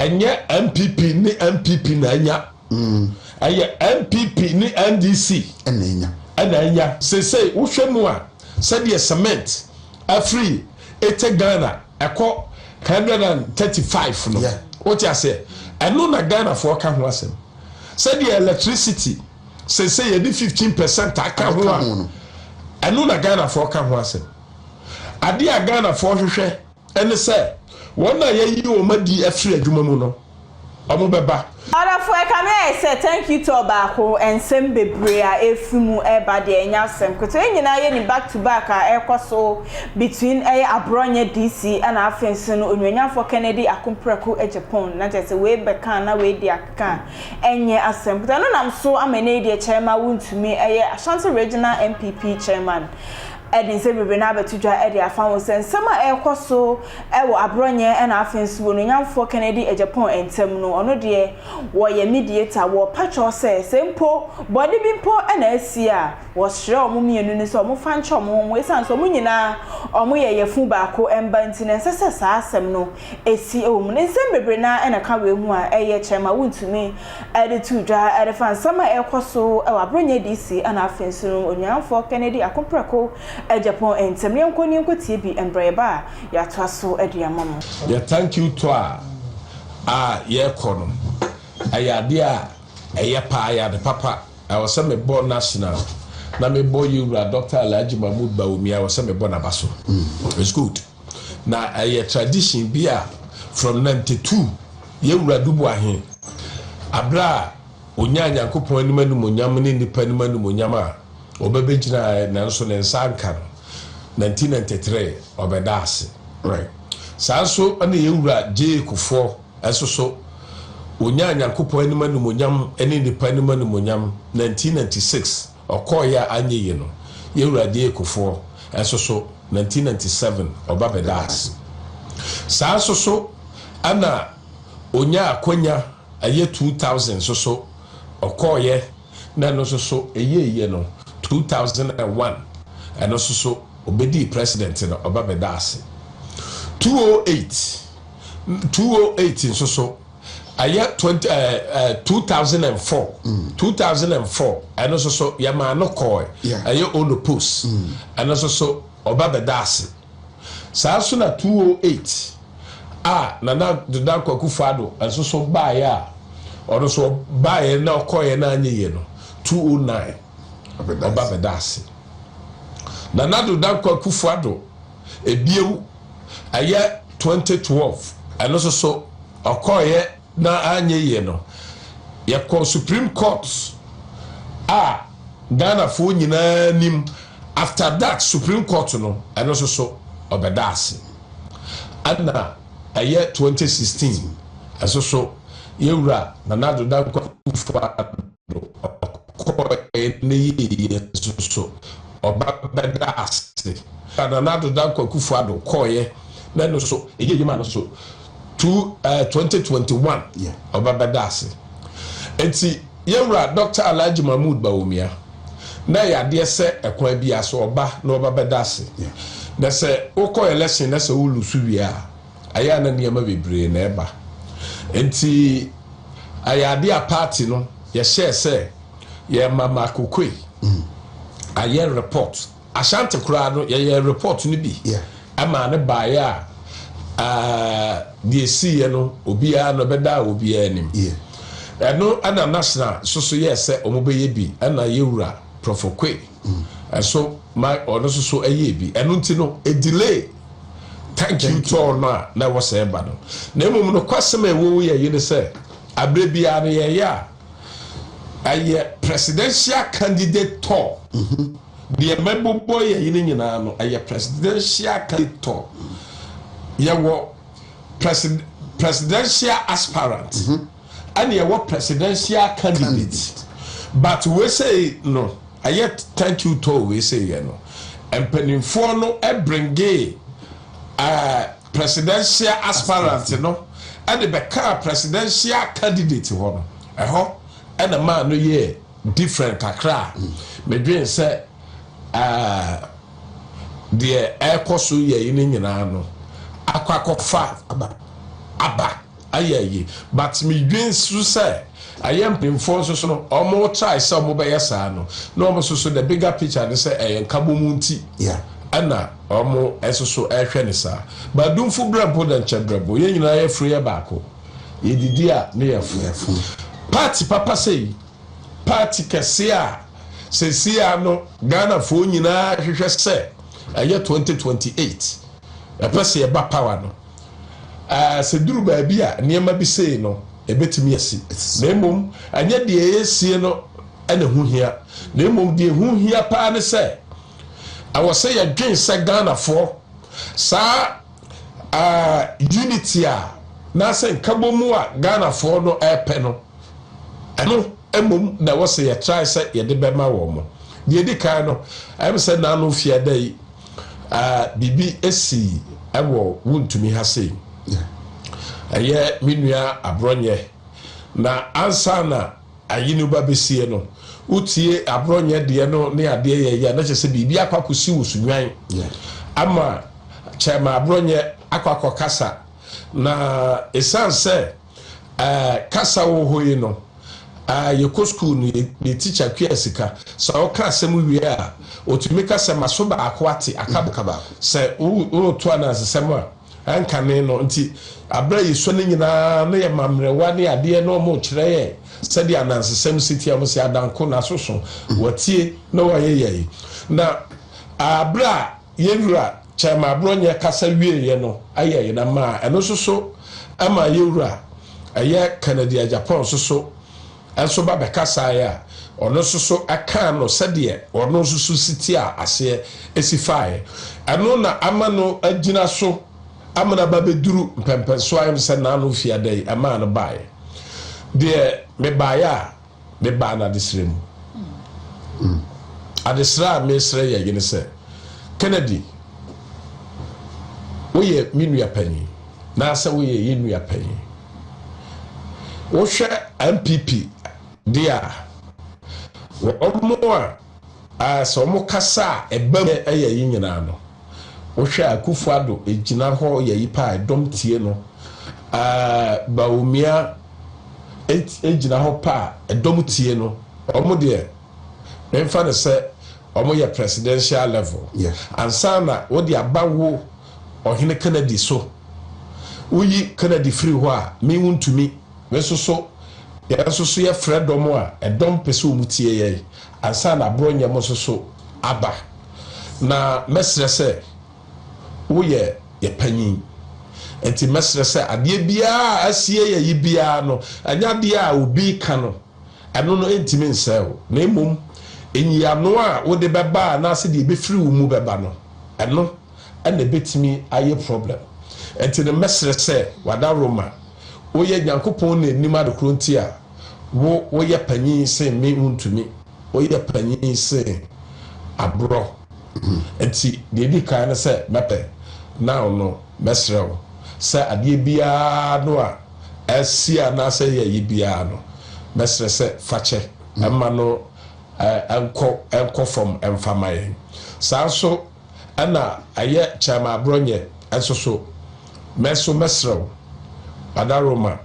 Ɛnyɛ NPP ne NPP na anya. Ɛyɛ NPP ne NDC na anya. Seesei wohwɛ mu a, sɛdeɛ cement afiri Ete Ghana ɛkɔ hundred and thirty five no, wote aseɛ, ɛno na Ghanafoɔ ka ho asɛm. Sɛdeɛ electricity seesei yɛde fifteen percent aka ho a, ɛno na Ghanafoɔ ka ho asɛm. Adeɛ a Ghanafoɔ hwehwɛ. Ɛne sɛ, wɔn a yɛayi wɔn adi afiri adwuma mu no, wɔbɛba. Ɔdɔfo ɛkame ayɛ sɛ thank you to ɔbaako nsɛm bebree a ɛfiri mu ɛba deɛ ɛnyɛ asɛm ketewa yɛn nyinaa yɛnim back to back a ɛrekɔ so between ɛyɛ aborɔnyɛ DC ɛna afei nso no onuonyamfoɔ Kennedy Akomprako Agyapong na kyerɛ sɛ wei bɛka a na wei deɛ akeka a ɛnyɛ asɛm ketewa ɛno nam so ama ɛnɛ yi deɛ chairman wontumi ɛyɛ Ashanti Regional NPP chairman de nsɛm bebree no abɛto dwa de afa ho sɛ nsɛm a ɛrekɔ so wɔ Aborɔnyɛ na afei nso wɔ Nuonyamfoɔ Kennedy Agyapong ntam no, ɔno deɛ wɔyɛ mediator, wɔpa kyɛw sɛ sɛ mpo bɔne bi mpo na asi a, wɔsrɛ wɔn mmienu no sɛ wɔmfa nkyɛ wɔn ho wɔn esiane sɛ wɔn nyinaa wɔyɛ yafunu baako mma nti no ɛnsɛ sɛ saa asɛm no esi wɔ mu no. Nsɛm bebree no ara na ɛka wei ho a ɛyɛ kyerɛ ma wontumi de to dwa de fa nsɛm a ɛrekɔ so wɔ Abronyɛ DC na afei nso no Onuayɛfoɔ Kennedy Akopreko Agyapong ntam. Yɛnkɔ na yɛnkɔtie bi mbrɛ yɛba a yɛatoa so de ama mo. Yɛ thank you tour a yɛkɔ no ɛyɛ adeɛ a ɛyɛ paa, ɛyɛ ade papa. Ɛwɔ sɛ me bɔ national na me bɔ yɛwura Doctor Alhaji Mahmood Bawumia, ɛwɔ sɛ me bɔ naba so. It's good. Na ɛyɛ tradition bi a from nantetuu yɛ Wura Duboahe aberɛ a ɔnyaa Nyankopɔn anim animuonyam ne nnipa anim animuonyam a ɔbɛbɛgyinaɛ nanso ne nsa anka no, nanti nantetere ɔbɛda ase. Right. Saa nso na yɛ Wura Gyee Kufoɔ nso so ɔnyaa Nyankopɔn anim animuonyam ne nnipa anim animuonyam nanti nanti six. Ɔkɔɔeɛ a anyɛ yie no, yɛ Awurade Ekofoɔ nso so, 1997, ɔba bɛdaa ase. Saa nso so na ɔnyaa akwanya ɛyɛ 2000 nso so, ɔkɔɔeɛ na ɛno nso so ɛyɛeɛ no, 2001, ɛno nso so ɔbɛdii President no, ɔba bɛdaa ase. 208, 208 nso so, Ɛyɛ twenty ɛɛ eh, ɛɛ eh, two thousand and four. Mm. Two thousand and four. Ɛno nso so yɛ maa no kɔɔɛ. Yeah. Ɛyɛ ono post. Mm. Ɛno nso so ɔba bɛda ase. Saa nso na two oh eight a nana dodan kwaku fado nso so baayɛ a ɔno so baayɛ na ɔkɔɔɛ na anyɛ yie no two oh nine ɔba bɛda ase. Nana dodan kwaku fado ebiew Ɛyɛ twenty twelve ɛno nso so ɔkɔeɛ na anyɛ yie no yɛkɔɔ supreme court a Ghanafoɔ nyinaa nim after that supreme court no ɛno nso so ɔbɛda ase ɛna ɛyɛ twenty sixteen ɛnso so yɛwura Nana Addo Dankwa Akufo-Addo ɔkɔɔɛ ne yɛɛyɛ nso so ɔba bɛda ase. Nana Addo Dankwa Akufo Addo kɔɔɛ ne no so yɛɛyɛ maa no nso so two, uh, 2021 yeah. ɔba bɛda ase. Nti yɛwura Doctor Alhaji Mahmood Bawumia na yɛ adeɛ sɛ ɛkwan bi aso ɔba na ɔba bɛda ase. Yeah. Na sɛ wokɔ election na sɛ wo lusu wie a Ɛyɛ a na nneɛma bebree na ɛba. Enti ɛyɛ adeɛ a paati no yɛhyɛɛ sɛ yɛma Mako Koi ayɛ report. Ashanti koraa no yɛyɛ report no bi ɛmaa no baeɛ a deɛ ɛsiiɛ no obiara no ɛbɛdaa obiara anim. Ɛno ɛna national soso yɛɛ sɛ wɔbɛyɛ bi ɛna yɛwura Prɔfo Koi ɛso ma ɔno soso ɛyɛɛ bi. Ɛno nti no ɛdelay. Thank you tɔɔ no a na ɛwɔ sɛ ɛba no. Na mmom nokwasɛm a ɛwɔ mu yɛ yi ne sɛ, aberɛ biara no yɛyɛ a, ɛyɛ presidential candidate tɔɔ. Deɛ ɛbɛbobɔ yɛn yi no nyinaa no, ɛyɛ presidential candidate tɔɔ. Yɛwɔ presidential aspirant. ɛna ɛwɔ presidential candidate but wei sei no ɛyɛ thank you too wei sei yɛ no mpaninfoɔ no bringee ɛɛ presidential aspirant no ɛde bɛkaa presidential candidate hɔ no ɛhɔ ɛna maa no yɛ different kakra a medwen sɛ ɛɛ deɛ ɛɛkɔ so yɛ yi no nyinaa no akɔ akɔfa aba. ayɛ ayi but me dwen nso sɛ ɛyɛ mpanyinfoɔ nso so no ɔmo try sɛ ɔmo bɛyɛ saa no na ɔmo nso so the bigger picture ne sɛ ɛyɛ nkabom nti ɛna ɔmo nso so ɛhwɛ ne saa but dumfo brɛ mpo dɛ nkyɛ brɛ bo yɛn nyinaa yɛ funu yɛ baako yɛ didi a ne yɛ funu party papa sɛ yi party kɛse a sɛ si a no Ghana foɔ nyinaa hwehwɛ sɛ ɛyɛ 2028 ɛpɛ sɛ yɛba power no. Aa, sɛ ɛduru baabi a nneɛma bi sei no, ɛbɛtumi asi. Na mmom, ɛnyɛ deɛ ɛyɛ sie no na ɛho hia, na mmom deɛ ɛho hia pa ara ne sɛ, ɛwɔ sɛ yɛdwen sɛ Ghanafoɔ, saa aa, unity a, anaasɛ nkabom a Ghanafoɔ no repɛ no, ɛno mmom na ɛwɔ sɛ yɛtrae sɛ yɛde bɛma wɔn. Deɛ ɛdi kan no, ɛyɛ me sɛ nnaano mfeɛ dɛn, Ah, biribi asi wɔ Wontumi ha sei. Ɛyɛ me nua Aborɔnyɛ. Na ansa na ayi no ba bɛsie no, wotie Aborɔnyɛ deɛ no ne adeɛ yɛ yɛ a, na kyerɛ sɛ biribi akɔ akɔsi wo so nnwan. Ama Kyɛrema Aborɔnyɛ akɔ akɔkasa. Na ɛsiane sɛ Ɛɛ kasa wɔ hɔ yi no ɛɛ yɛkɔ sukuu no yɛ yɛ tikya kua sika sɛ ɔka asɛm wie a otumi ka sɛ ma so baako ate aka aka baako sɛ woto anansesɛm a ɛnkane no nti abere a yɛsua no nyinaa na yɛ ma mmerewa ne adeɛ na wɔn kyerɛ yɛ sɛdeɛ anansesɛm si tia wɔn sɛ adanko na soso watie na wɔayɛ yɛ yi na abere a Yɛn Wura Kyɛrema Aborɔnyɛ kasa wieeɛ no yɛɛ yɛn amaa. Ɛno nso so ɛmaa yɛn Wura ɛyɛ Kennedy Agyapong nso so nso ba bɛkasaeɛ a ɔno nso so ɛkaa no sɛdeɛ ɔno nso so si tiaa aseɛ si faaeɛ. Ɛno na ama no agyina so ama no aba bɛduru mpɛmpɛnsoɔ a ɛyɛ me sɛ Nano Fiada yi ɛmaa no baaeɛ. Deɛ mebaaeɛ a. Me baa no adesrɛ mu. Adesrɛ a meresrɛ yɛn yere sɛ, Kennedy, woyɛ me nua panyin, naasɛ woyɛ yɛn nua panyin. Wohwɛ NPP de a, wɔn a a sɛ ɔmo kasa a ɛba mu yɛ yi nyinaa no wo hwɛ a Akufo Addo gyina hɔ yɛ yi paa ɛdɔm tie no ɛɛ Bawumia gyina hɔ paa ɛdɔm tie no ɔmo deɛ me nfa no sɛ ɔmo yɛ presidential level ansa na wo de aba wo Ɔhene Kennedy so wo yi Kennedy firi hɔ a me wo ntumi Me nso so, yɛn nso so yɛfrɛ dɔm a ɛdɔm pɛ sɛ wɔn tie yɛn, ansa na aborɔ nyɛ mo nso so aba. Na mɛsrɛ sɛ woyɛ yɛ panyin. Enti mɛsrɛ sɛ adeɛ biara a asie yɛ yi biara no, ɛnyɛ adeɛ a obi reka no, ɛno no ɛntumi nsɛe wo, na mmom nyiano a wode bɛba anaase deɛ ɛbɛfiri wo mu bɛba no, ɛno na ɛbɛtumi ayɛ problem. Enti no mɛsrɛ sɛ wadaworo ma. Woyɛ Nyankopɔn na nim ade koro nti a wo woyɛ panyin sen me wontumi woyɛ panyin sen aborɔ nti deɛ ɛdi kan ne sɛ mɛpɛ now no mɛsrɛ wo sɛ adeɛ biara no a ɛsi anaasɛ ɛyɛ yɛ biara no mɛsrɛ sɛ fakyɛ ɛma no ɛnkɔ ɛnkɔ fam ɛmfa ma yɛn saa nso Ɛna ɛyɛ kyɛremabrɔnyɛ nso so. Me nso mɛsrɛ wo, Ada Roma,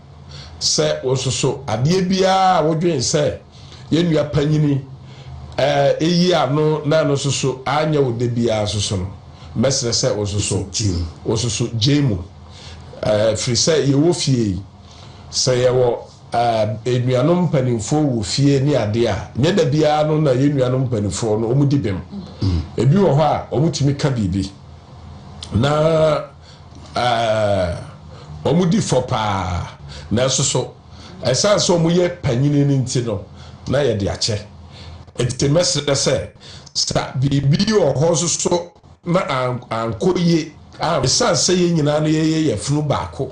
sɛ wo nso so, adeɛ biara a wodwen sɛ yɛn nua panyini reyi ano na ɛno nso so anyɛ wo dɛ biara nso so no, mɛsrɛ sɛ wo nso so, wo nso so gyae mu. Ɛfiri sɛ yɛwɔ fie yi, sɛ yɛwɔ. Ɛɛ nuanom mpaninfoɔ wɔ fie ne adeɛ a nyɛ da biara no na yɛn nuanom mpaninfoɔ no wɔn di bem. Ebi wɔ hɔ a wɔn tumi ka biribi na ɛɛ wɔn di fɔ paa na ɛso so ɛsan sɛ wɔn yɛ panyini no nti no na yɛde akyɛ. Eti mɛsrɛ sɛ sa biribi wɔ hɔ nso so na ankɔ yie ɛsiane sɛ yɛn nyinaa no yɛyɛ yafunu baako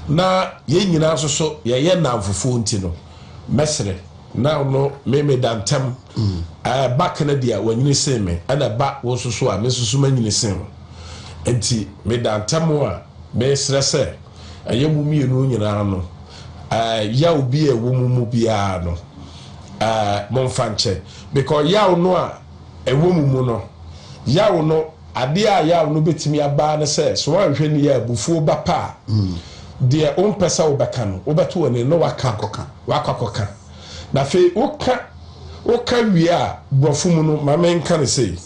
na yɛn nyinaa nso so yɛyɛ nnamfofoɔ nti no mɛsrɛ na no me meda ntam mm. ɛba Kennedy a wanyini sen me ɛna ɛba wo nso so a me nso so manyini sen wo nti meda ntam a mesrɛ sɛ ɛyɛ mo mmienu nyinaa no yaw bi a ɛwɔ mu mu biara no momfa nkyɛ because yaw no a Ɛwɔ mu mu no, yaw no, adeɛ a yaw no bɛtumi aba ara ne sɛ, sɛ woanhwɛ no yie a, abufuo ba pɛ a, deɛ wompɛ sɛ wobɛka no, wobɛto w'anim na woaka, woakɔ akɔka. Na afei woka, woka wie a, Borɔfo mu no, ma menka no sei,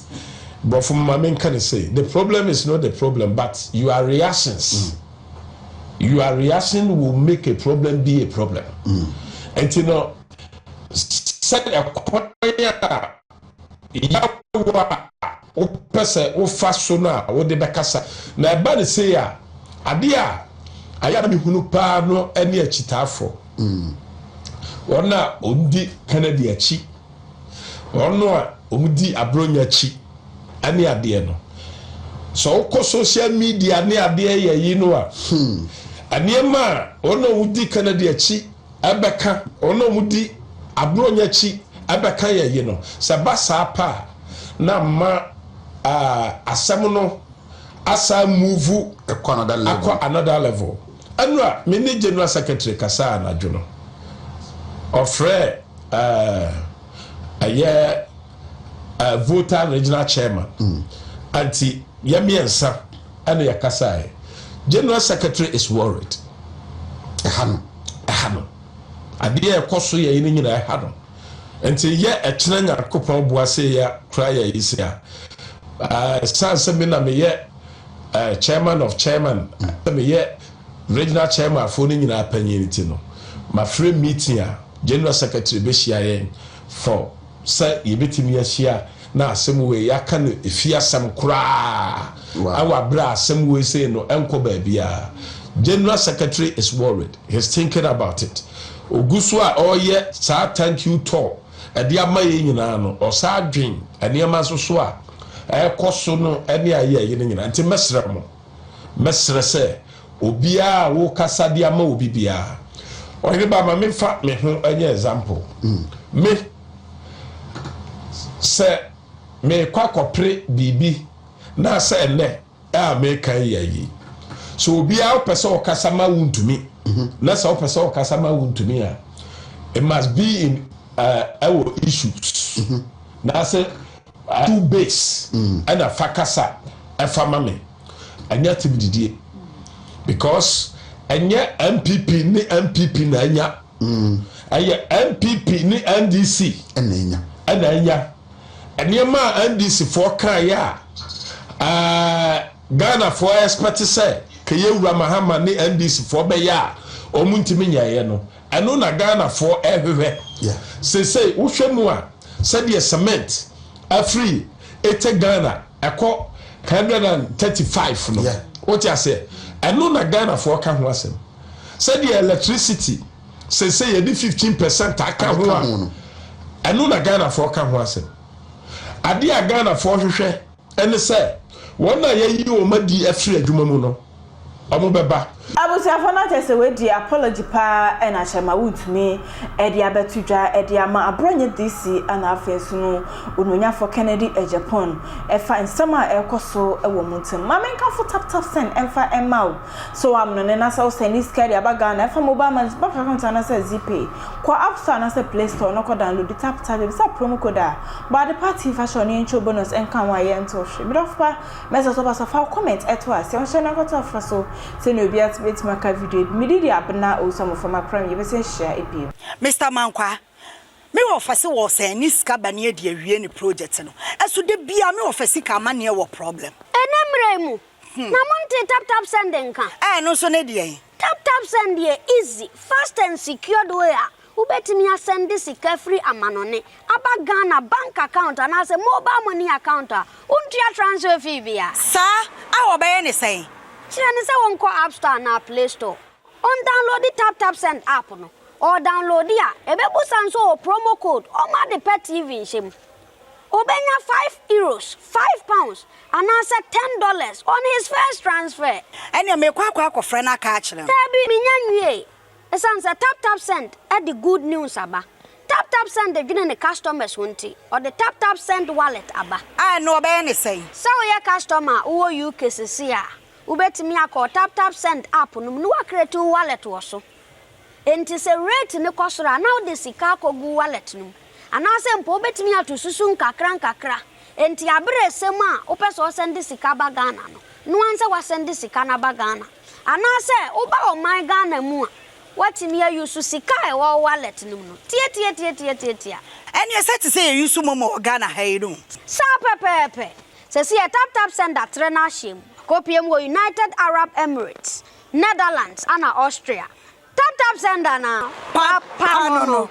Borɔfo mu, ma menka no sei, the problem is not the problem, but your reactions. Your reaction will make a problem be a problem. Ɛnti no. sɛ ɛkwan a yaw a wopɛ sɛ wofa so no a wode bɛkasa. Na ɛba no sei a, adeɛ a ayɛ a na mehunu paa no ne akyitaafoɔ. Mm. Wɔn a wɔdi Kennedy akyi, wɔn a wɔdi Aburonya akyi ne adeɛ no. Sɛ wokɔ social media ne adeɛ yɛ yi no a, hmm. nneɛma a wɔn a wɔdi Kennedy akyi Ɛbɛka wɔn a wɔdi aborɔnya akyi, ɛbɛka yɛn ye no. Sɛ ɛba saa pɛ a, na mma asɛm no asan mmuvu akɔ another level. Ɛno a, me ne General Secretary kasaa anadwo no. Ɔfrɛɛ ɛyɛ Volta Regional Chairman. Nti. Yɛn mmiɛnsa na yɛkasaeɛ. General Secretary is worried. Ɛha no. Ɛha no. Adeɛ a ɛkɔ so yɛn no nyinaa ɛha no. Nti yɛ ɛkyena Nyankopɔn boa sɛ yɛ kora yɛ yi se a, ɛsan sɛ me na meyɛ chairman of chairman, sɛ meyɛ regional chairman foɔ no nyinaa panyin ti no, mafrɛ meeting a General Secretary bɛhyia yɛn for sɛ yɛbɛtumi ahyia Na asɛm wei yɛaka no ɛfiri asɛm koraa wɔ aberɛ a asɛm wei sei no ɛnkɔ baabiara General secretary is worried, he's thinking about it Ɔgu so a ɔreyɛ saa thank you tour de ama yɛn nyinaa no ɔsan dwen nneɛma nso so a ɛrekɔ so no ne a yɛyɛ no nyinaa Nti mɛsrɛ mo, mɛsrɛ sɛ obiara a wokasa de ama obi biara Ɔheneba ma memfa me ho nyɛ example Me, Sɛ merekɔ akɔpere biribi na sɛ ɛnnɛ a meka yi ayi. Sɛ obiara wopɛ sɛ ɔkasa ma wo ntumi na sɛ wopɛ sɛ ɔkasa ma wo ntumi a it must be in uh, ɛwɔ uh, issues mm-hmm. na sɛ uh, two base mm. ɛna mm. fa kasa ɛfa ma me ɛnyɛ tim didie because ɛnyɛ MPP ne MPP na ɛnya Ɛyɛ NPP ne NDC na anya. Nneɛma a NDC foɔ kaeɛ a Ghana foɔ expect sɛ Keyewura Mahama ne NDC foɔ bɛyɛ a wɔn ntumi nyɛeɛ no, ɛno na Ghana foɔ ɛhwehwɛ. Sesei wohwɛ mu a sɛdeɛ cement afiri ete Ghana ɛkɔ 135 no, wote aseɛ, ɛno na Ghana foɔ ka ho asɛm. Sɛdeɛ electricity seesei yɛde fifteen percent aka ho a, ɛno na Ghanafoɔ ka ho asɛm. Adeɛ a Ghanafoɔ hwehwɛ ne sɛ wɔn a yɛayi wɔn adi afiri adwuma mu no, wɔbɛba. Abusuafoɔ na kyerɛ sɛ wei deɛ apology paa na kyerɛ ma wontumi de abɛto dwa de ama Abrɔnyɛ DC na afei nso no Onuanyafoɔ Kennedy Agyapong ɛfa nsɛm a ɛrekɔ so wɔ mo ntam. Ma menkamfo Taptapsɛn mfa mma wo. So w'amnone na sɛ wo sɛnde sika de aba Ghana ɛfa mobile money so, bank account anaasɛ Zeepay? Kɔ app store anaasɛ play store na kɔ download tap tap yɛ bisa promo code a bɔ ade pa tea fa hyɛ ɔne yɛnkyɛ wo bonus ɛnka ho a yɛ ntow hwe medɔfo pa mɛsɛ sɛ ɔbasa fa wo comment ɛto a sia nhyɛ na kɔ to afra so sɛnea obia te bɛtumi aka video bi me didi abena owusu amofra makora me yɛ bɛsɛ nhyia ebiem. Mister Mankwa, me wɔ fɛ se wɔ sɛn ne sika ba ne adi awie ne project no, ɛso da biaa me wɔ fɛ sika ama neɛ wɔ problem. Ɛnɛ mmra yi mu, Na mo ntee tap tap send nka? Ɛɛ ɛno nso ne deɛn? Tap tap send yɛ easy, fast and secured way a wobɛtumi asɛnde sika firi amanɔne aba Ghana bank account anaasɛ mobile money account a wontua transfer fee biara. Saa a wɔbɛyɛ ne sɛn? Kyerɛ no sɛ wɔnkɔ app store anaa play store, ɔndownloadi tap tap send app no, ɔɔdownloadi a ɛbɛbusa nso ɔwɔ promo code ɔma ade pa TV nhyɛ mu. Obenya five euros, five pounds, anaasɛ ten dollars on his first transfer. Ɛnneɛ meekɔ akɔ akɔfrɛ no aka akyerɛ no. Daabi, mennya nwiei. Esiane sɛ TapTapSend de good news aba, TapTapSend dwene ne customers ho nti, ɔde TapTapSend Wallet aba. A, ɛnneɛ wɔbɛyɛ no sɛn? Sɛ woyɛ customer a wowɔ UK seesei a, wobɛtumi akɔ TapTapSend app no mu na woacreate wo wallet wɔ so. Enti sɛ rate no kɔ soro a, na wode sika akɔgu wallet no mu. Anaasɛ mpo wobɛtumi ato susu nkakrankakra. Enti aberɛ resɛm a wopɛ sɛ ɔsɛnde sika ba Ghana no, noa nsɛ wasɛnde sika no aba Ghana. Anaasɛ woba ɔman Ghana mu a, woatumi a use sika a ɛwɔ wo wallet no mu no. Tiatiatiatiatiatia. Ɛneɛ sɛ te sɛ yɛ use momo wɔ Ghana ha yi no. Saa pɛpɛɛpɛ. Sɛsi yɛ taptapsend atrɛ no ahyɛm. Akɔpie mu wɔ United Arab Emirates. Netherlands ana Austria? Tap tap send a na papa no no.